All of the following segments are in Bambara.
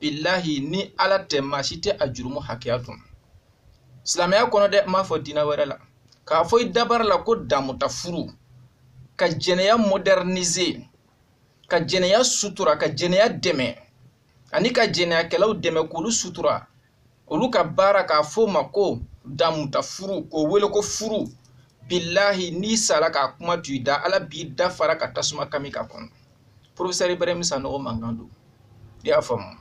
bilahi ni ala tɛ maa si tɛ a jurumu hakɛya dɔn silamɛya kɔnɔ dɛ n m'a fɔ diinɛ wɛrɛ la k'a fɔ i dabara la ko damuta furu ka jɛnɛya modernize ka jɛnɛya sutura ka jɛnɛya dɛmɛ ani ka jɛnɛyakɛlaw dɛmɛ k'olu sutura olu ka baara k'a f'o ma ko damuta furu k'o wele ko furu bilahi n'i sara k'a kuma to i da ala b'i da fara ka tasuma kami k'a kɔnɔ profesɛri ibrahim sanɔgɔ mankan don i y'a faamu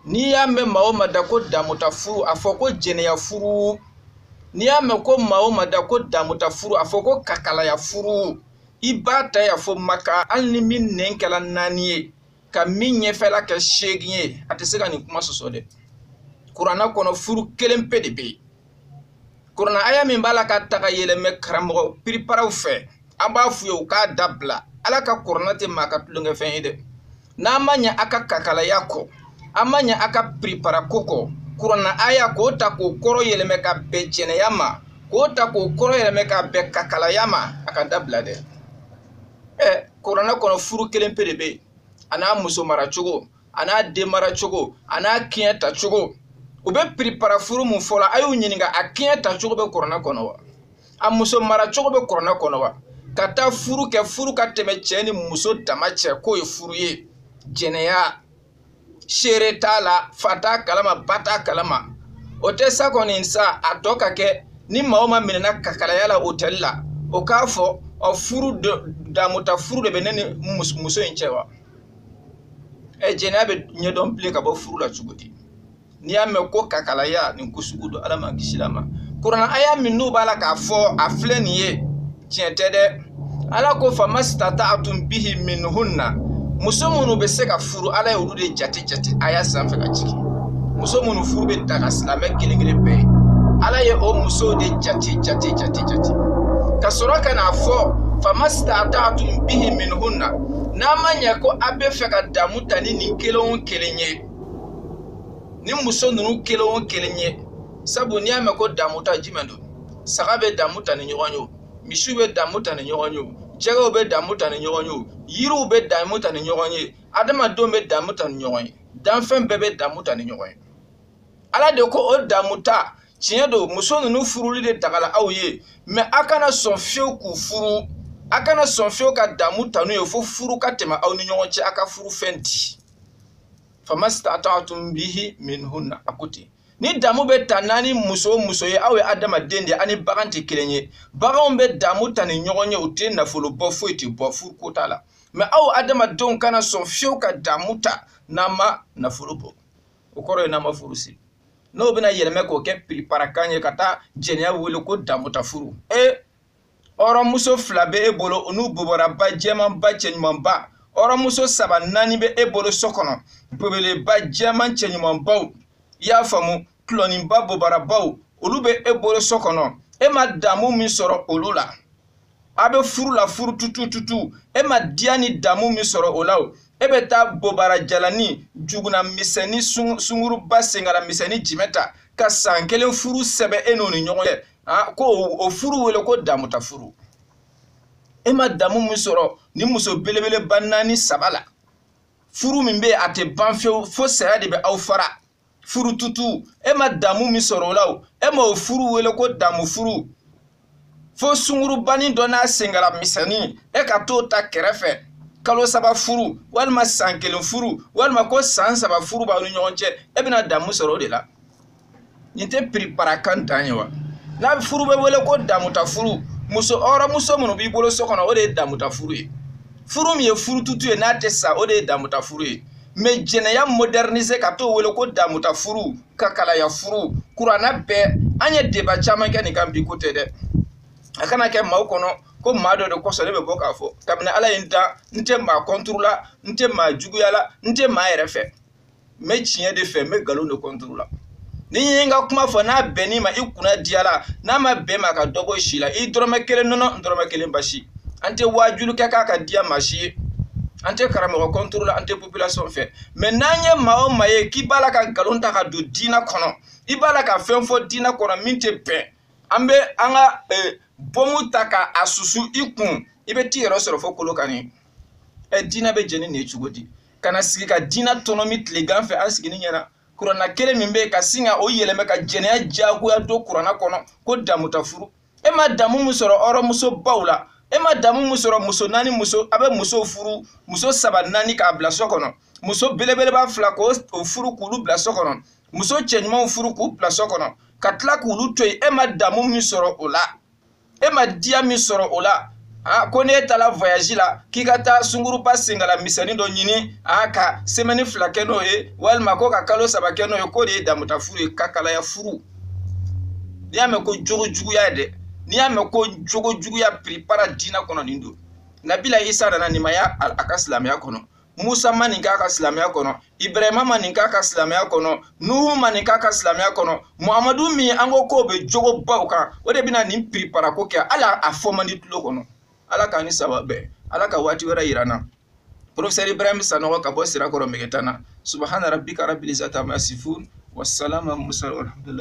n'i y'a mɛn maa o maa da ko damuta furu a fɔ ko jɛnɛya furu n'i y'a mɛn ko maa o maa da ko damuta furu a fɔ ko kakalaya furu i b'a ta yan fo maka hali ni min nɛn kɛla naani ye ka min ɲɛfɛla kɛ seegin ye a tɛ se ka nin kuma sɔsɔ dɛ kuranna kɔnɔ furu kelen pe de bɛ yen kuranna aya min b'a la ka ta ka yɛlɛmɛ karamɔgɔ piriparaw fɛ an b'a f'u ye u k'a dabila ala ka kuranna tɛ maa ka tulonkɛfɛn ye dɛ n'a ma ɲɛ a ka kakalaya kɔ a ma ɲɛ a ka piripara ko kɔ kuranna aya k'o ta k'o kɔrɔ yɛlɛmɛ ka bɛn jɛnɛya ma k'o ta k'o kɔrɔ yɛlɛmɛ ka bɛn kakalaya ma a k'a dabila dɛ ɛ kuranna kɔnɔ furu kelen pe de bɛ yen a n'a muso mara cogo a n'a den mara cogo a n'a kiɲɛ ta cogo u bɛ piripara furu mun fɔ la a y'u ɲininka a kiɲɛ ta cogo bɛ kuranna kɔnɔ wa a muso mara cogo bɛ kuranna kɔnɔ wa ka taa furu kɛ furu ka tɛmɛ cɛ ni muso dama cɛ k'o ye furu ye jɛnɛya seere t'a la fa t'a kalama ba t'a kalama o tɛ sa kɔni sa a tɔ ka kɛ ni maa o maa minɛna kakalaya la otɛli la o k'a fɔ ɔ furu damuta furu de bɛ ne ni muso in cɛ wa ɛ jɛnɛya bɛ ɲɛdɔn bilen ka bɔ furu la cogo di n'i y'a mɛn ko kakalaya nin ko sugu don ala m'an kisila a ma kuranna aya min n'u b'a la k'a fɔ a filɛ nin ye tiɲɛ tɛ dɛ ala ko fama sitamtaatum bihi minhunna muso minnu bɛ se ka furu ala ye olu de jate jate aya sanfɛ ka jigin muso minnu furu bɛ daga silamɛ kelen kelen bɛɛ ye ala ye o musow de jate jate jate jate ka sɔrɔ ka n'a fɔ fama sitamtaatum bihi minhunna n'a ma ɲɛ ko a bɛ fɛ ka damu ta ni nin kelen o kelen ye ni muso ninnu kelen o kelen ye sabu n'i y'a mɛn ko damu ta jumɛn don saga bɛ damu ta ni ɲɔgɔn ye o misiw bɛ damu ta ni ɲɔgɔn ye o jɛgɛw bɛ damu ta ni ɲɔgɔn ye o yiriw bɛ damu ta ni ɲɔgɔn ye adamadenw bɛ damu ta ni ɲɔgɔn ye danfɛn bɛɛ bɛ damu ta ni ɲɔgɔn ye ala de ko o damu ta tiɲɛ don muso ninnu furuli de dagala aw ye mɛ a kana sɔn fiyewu k'u furu a kana sɔn fiyewu ka damu ta n'u ye fo furu ka tɛmɛ aw ni ɲɔgɔn cɛ a ka furu fɛn di famastata'tum bihi minhunna a ko ten ni damu bɛ ta naani muso o muso ye aw ye adamaden de ani bagan tɛ kelen ye baganw bɛ damu ta ni ɲɔgɔn ye u tɛ nafolo bɔ foyi tɛ bɔ furu ko t'a la mɛ aw adamadenw kana sɔn fewu ka damu ta n'a ma nafolo bɔ o kɔrɔ ye n'a ma furu siri n'o bɛna yɛlɛmɛ k'o kɛ piriparakan ye ka taa jɛnɛya wele ko damu ta furu ee hɔrɔnmuso fila bɛ e bolo u n'u bobaraba jɛmanba cɛɲumanba hɔrɔnmuso saba naani bɛ e bolo so kɔnɔ belebeleba jɛman cɛɲumanbaw i y'a faamu tulɔninba bobarabaw olu bɛ e bolo so kɔnɔ e ma damu min sɔrɔ olu la a bɛ furu la furu tutututu e ma diya ni damu min sɔrɔ o la o e bɛ taa bobara jalani jukuna misɛnni sunguruba senkala misɛnni jimɛ ta ka san kelen furu sɛbɛn e n'o ni ɲɔgɔn cɛ aa ko o furu wele ko damuta furu e ma damu min sɔrɔ ni muso belebeleba naani saba la furu min bɛ a tɛ ban fewu fo saya de bɛ aw fara furu tutu e ma damu min sɔrɔ o la o e ma o furu wele ko damu furu fo sungurubanin dɔ n'a senkala misɛnnin e ka t'o ta kɛrɛfɛ kalo saba furu walima san kelen furu walima ko san saba furu b'aw ni ɲɔgɔn cɛ e bɛna damu sɔrɔ o de la nin tɛ piripara kan dan ye wa n'a bɛ furu bɛ wele ko damuta furu muso hɔrɔnmuso minnu b'i bolo so kɔnɔ o de ye damuta furu ye furu min ye furututu ye n'a tɛ sa o de ye damuta furu ye mɛ jɛnɛya modɛrinise ka t'o wele ko damuta furu kakalaya furu kuranna bɛɛ an ye deba caman kɛ nin kan bi ko tɛ dɛ a kana kɛ maaw kɔnɔ ko maa dɔ de kosɔn ne bɛ bɔ k'a fɔ kabini ala ye n dan n tɛ maa kɔnturu la n tɛ maa juguya la n tɛ maa yɛrɛ fɛ n bɛ tiɲɛ de fɛ n bɛ nkalon de kɔntoro la ni n ye n ka kuma fɔ n'a bɛnn'i ma i kunna diyala n'a ma bɛn ma ka dɔ bɔ si la i dɔrɔmɛ kelen nɔnɔ n dɔrɔmɛ kelen basi an tɛ waajuli kɛ k'a ka diya maa si ye an tɛ karamɔgɔ kɔntoro la an tɛ population fɛ mɛ n'an ye maa o maa ye k'i b'a la ka nkalon ta ka don diinɛ kɔnɔ i b'a la ka fɛn fɔ diinɛ kɔnɔ min tɛ bɛn an bɛ an ka eh, bɔmu ta ka a susu i kun i bɛ t'i yɛrɛ sɔrɔ fo kolokani ɛ diinɛ bɛ jɛ ni nin ye cogo di ka na sigi ka diinɛ tɔnɔmi tilegan fɛ an sigini ɲɛna kuranna kelen min bɛ yen ka sin ka o yɛlɛmɛ ka jɛnɛya diyagoya don kuranna kɔnɔ ko damuta furu e ma damu min sɔrɔ hɔrɔnmusobaw la e ma damu min sɔrɔ muso naani muso a bɛ muso furu muso saba naani k'a bila so kɔnɔ muso belebeleba fila k'o furu k'olu bila so kɔnɔ muso cɛɲumanw furu k'u bila so kɔnɔ ka tila k'olu to yen e ma damu min sɔrɔ o la e ma diya min sɔrɔ o la a ko n'e taara voyage la k'i ka taa sunguruba senkala misɛnnin dɔ ɲini a ka semɛni fila kɛ n'o ye walima ko ka kalo saba kɛ n'o ye k'o de ye damuta furu ye kakalaya furu n'i y'a mɛn ko jogo juguya ye dɛ n'i y'a mɛn ko jogo juguya piripara diinɛ kɔnɔ nin don nabila isa nana nin ma ye a ka silamɛya kɔnɔ musa ma nin k'a ka silamɛya kɔnɔ ibrahima ma nin k'a ka silamɛya kɔnɔ nuhu ma nin k'a ka silamɛya kɔnɔ muhamadu min an ko k'o bɛ jogo baw kan o de bɛna nin piriparako kɛ hali a fɔ man di tulo kɔnɔ ala k'an ni saba bɛn ala ka waati wɛrɛ yira an na professeur ibrahim sanɔgɔ ka bɔ sirakɔrɔ megetana subahana rabbika rabbil izzati amma yasifun wasalama musa walhamdulillah